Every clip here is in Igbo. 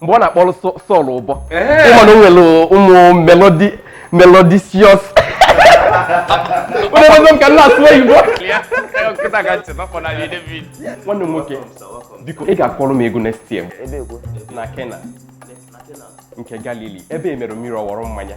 mgbe ọ na-akpọrọ Sọl ụbọ ị ma na o nwere ụmụ melodi melodisios onye m ka na-asụ oyibo nwanne m nwoke biko ị ga-akpọrọ m egwu next year na Kena nke Galili ebe emere mmiri ọ wọrọ mmanya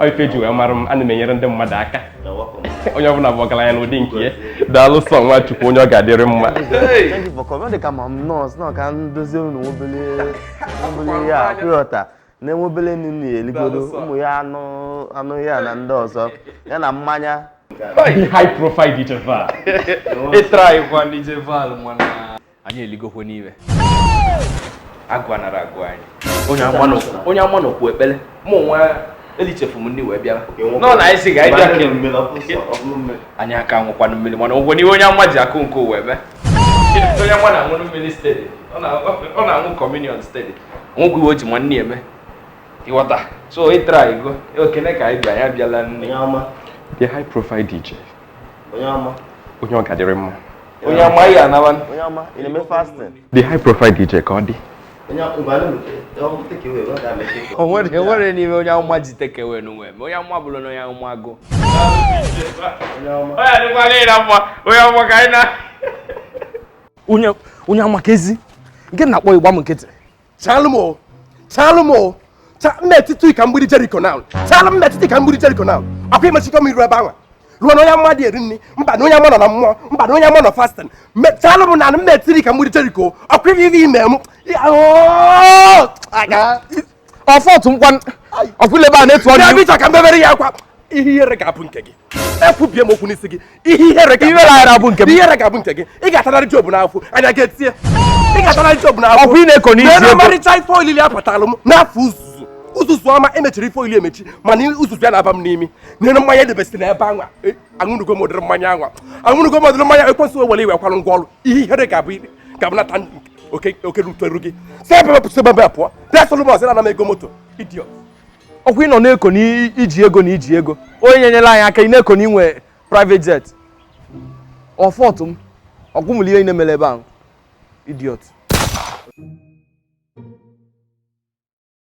Ọ ife ji wee mara m ana m enyere ndị mmadụ aka You're welcome. onye ọbụla bụ ọgaranya n'ụdị nke ya daalụ sọ nwa chukwu onye ọ ga-adịrị mma Hey! Thank you for coming. Ọ dị ka ma m nọọsụ nọ ka m dozie unu nwobele nwobele ihe a pịọta na-enwe obele nri na eligodo ụmụ ya anụ anụ ya na ndị ọzọ ya na mmanya Hi, high profile DJ Val. ịtraịkwa DJ Val mana anyị eligokwe nri agụụ anara agụ anyị onye amụma n'okwu ekpere mụ nwa elichefu m ndị wee bịara nọ na anyị si ga ịbịa anyị aka aṅụkwanụ mmiri mana ụgwọ n'iwe onye amụma ji akụ nke ụwa eme onye amụma na-aṅụ mmiri steeti ọ na-aṅụ communion steeti nwụgwụ iwe o ji nwanne ya eme ị ghọta so ịtara igo okene ka anyị bịa ya bịala nne the high profile DJ onye ọma onye ọ ga-adịrị mma onye ọma ya anawa onye ọma ị na-eme fasting the high profile DJ ka ọ dị onwere n'ime onye amụma ji takeaway n'onwe m onye amụma bụrụ na onye amụma agụụ onye amụma ka ezi nke na-akpọ igba m nkịtị chalụ m o chalụ m o Cha- m na-etiti ka mgbidi jeriko na chalụ m na-etiti ka mgbidi jeriko na ọkwa imechikọ m iru ebe anwa ruo na onye amụma adị eri nri mba na onye amụma nọ na mmụọ mba na onye amụma nọ fasting chalụ m na m na-etiri ka mgbidi jeriko ọkwa ihe ihe ime m Oo! Aga. ọfọtụ nkwa ọfụlebe a na-etu ọrụ Bịa iwu. bịa ka m bebere ya akwa ihe ihere ga-abụ nke gị ekwubie m okwu n'isi gị ihe ihere ga-abụ nke gị ị ga-atararị jobu n'afọ anya gị etie ị ga-atararị jobu n'afọ ọkwa ị na-eko n'isi ebe ọmarịcha ife olili abatalụ m n'afọ uzuzu uzuzu ọma emechiri ife olili emechi mana uzuzu ya na-aba m n'imi nwere mmanya edebesị na ebe anwa e, aṅụnugo m ụdịrị mmanya anwa aṅụnugo m ụdịrị mmanya ekwensị wewere iwe kwalụ ngwa ọrụ ihe ihere ga-abụ ga-abụ nata oke ruteru gị si ebe a pụọ si ebe a pụọ bịa solomon sị na ana m ego moto idiot ọkwa ị nọ na-eko na i ji ego na i ji ego onye nyenyere anyị aka ị na-eko na i nwe private jet ọfọtụ m ọkwụmụrụ ihe ị mere ebe ahụ idiot